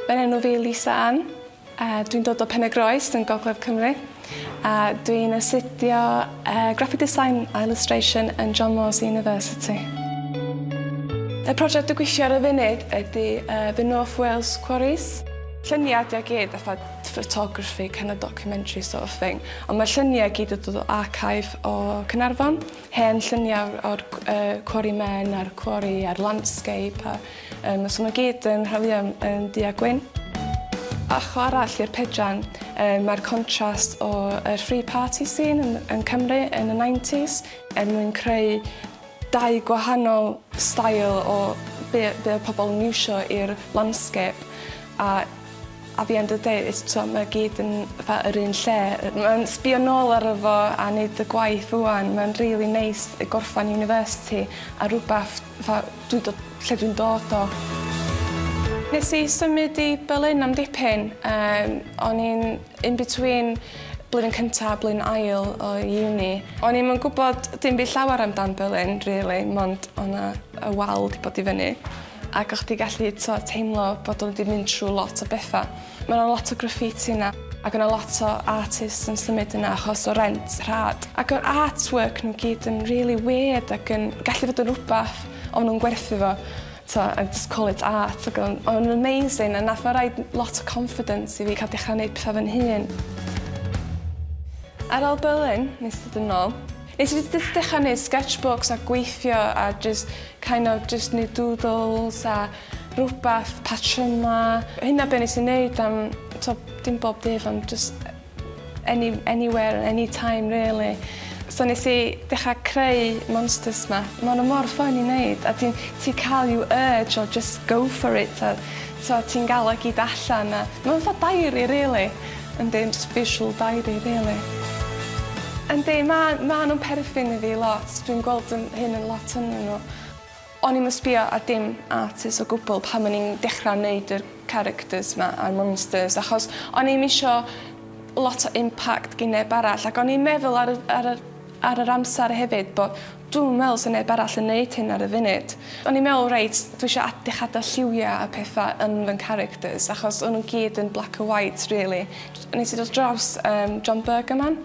Fy enw fi Lisa Ann, a dwi'n dod o Pen-y-groes yn Gogledd Cymru. A dwi'n astudio uh, Graphic Design a Illustration yn John Moores University. Y prosiect dwi'n gweithio ar y funud ydy uh, The North Wales Quarries. Lluniau ydy o gyd, fatha photography, kind of documentary sort of thing. Ond mae lluniau gyd yn dod o archive o Cynarfon. Hen lluniau o'r quarry men a'r quarry a'r landscape a yym so ma' gyd yn hawlia' yn du a gwyn. Ochr arall i'r pedran yy mae'r contrast o yr free party scene yn yn Cymru yn y nineties er mwyn creu dau gwahanol stael o be' be' odd pobol yn iwsio i'r landscape a at the end of the day it's t'o' ma' o gyd yn fatha yr un lle yy ma'n sbio nôl aro fo a neud y gwaith ŵan ma'n rili neis yy gorffan university a rwbath fatha dwi do- lle dwi'n dod o. Nes i symud i Berlin am dipyn yym o'n i'n in between blwyddyn cynta a blwyddyn ail o uni. O'n i'm yn gwbod dim by' llawer amdan Berlin rili mond o' 'na y wal 'di bod i fyny. Ac o' chdi gallu t'o' teimlo bod o 'di mynd trw lot o betha. Ma' 'na lot o graffiti 'na ac o' 'na lot o artists yn symud yna achos o rent rhad. Ac o'r art work n'w gyd yn rili wierd ac yn gallu fod yn rwbath o' nw'n gwerthu fo t'o' and just call it art ag o'n o'n nw'n amazing a nath o roid lot o confidence i fi ca'l dechra neud petha fy'n hun. Ar ol Berlin nes dod yn nôl Nes i jyst dechra neud sketchbooks a gweithio a jyst kind of jyst neud doodles a rwbath, patryma. Hynna be' nes i neud am t'o' dim bob dydd ond jyst any anywhere any time rili. So nes i dechra creu monsters 'ma. Ma' n'w mor ffyni neud a ti'n ti ca'l you urge o jyst go for it a t'o' ti'n ga'l o gyd allan a ma' fatha diary rili. Yndi, jyst visual diary rili. Yndi, ma- ma' nhw'n perthyn i fi lot, dwi'n gweld yn hyn yn lot ynnyn nhw. O'n i'm yn sbio ar dim artist o gwbl pan o'n i'n dechra neud yr characters 'ma a'r monsters achos o'n i'm isio lot o impact gin neb arall ac o'n i'n meddwl ar y ar yr ar yr amser hefyd bo' Dwi'm yn meddwl sy'n neb arall yn neud hyn ar y funud. O'n i'n meddwl reit, dwi isio ad- dechra adal lliwia a petha yn fy ngcharacters achos o'n nhw'n gyd yn black and white rili. Nes i dod draws yym John Bergerman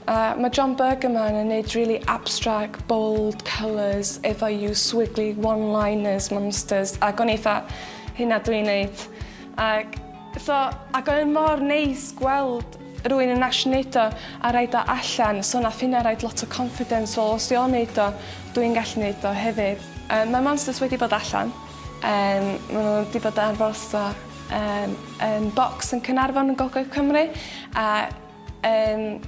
a ma' John Bergerman yn neud rili abstract bold colours efo you swiggly one liners monsters ag o'n i 'tha hynna dwi'n neud ag So, ac oedd e mor neis gweld rwy'n yn ash wneud o a rhaid o allan, so nath hynna rhaid lot o confidence, wel os dio'n wneud o, dwi'n gallu wneud o hefyd. Yym mae monsters wedi bod allan, yym ma' nhw wedi bod ar frosto yym yn bocs yn Caernarfon yn gogledd Cymru a Yym,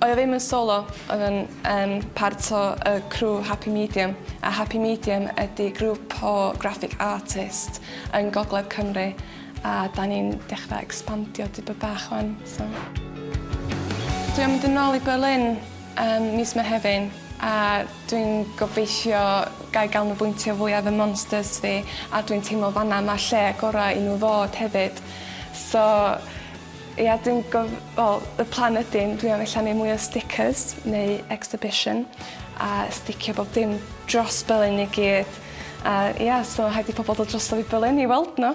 oedd o ddim yn solo, oedd o'n yn part o y crew Happy Medium, a Happy Medium ydi grŵp o graphic artist yn Gogledd Cymru, a 'da ni'n dechrau ecspandio dipyn bach 'wan, so. Dwi am mynd yn ôl i Berlin ym mis Mehefin, a dwi'n gobeithio ga i ganolbwyntio fwy ar fy monsters fi, a dwi'n teimlo fan'na ma'r lle gorau i nhw fod hefyd, so. Ia dwi'n gof- wel y plan ydi yn dwi am ella neu' mwy o sticers neu exhibition a sticio bob dim dros Belen i gyd a ia so rhaid i pobol dod drosto fi Belen i weld n'w.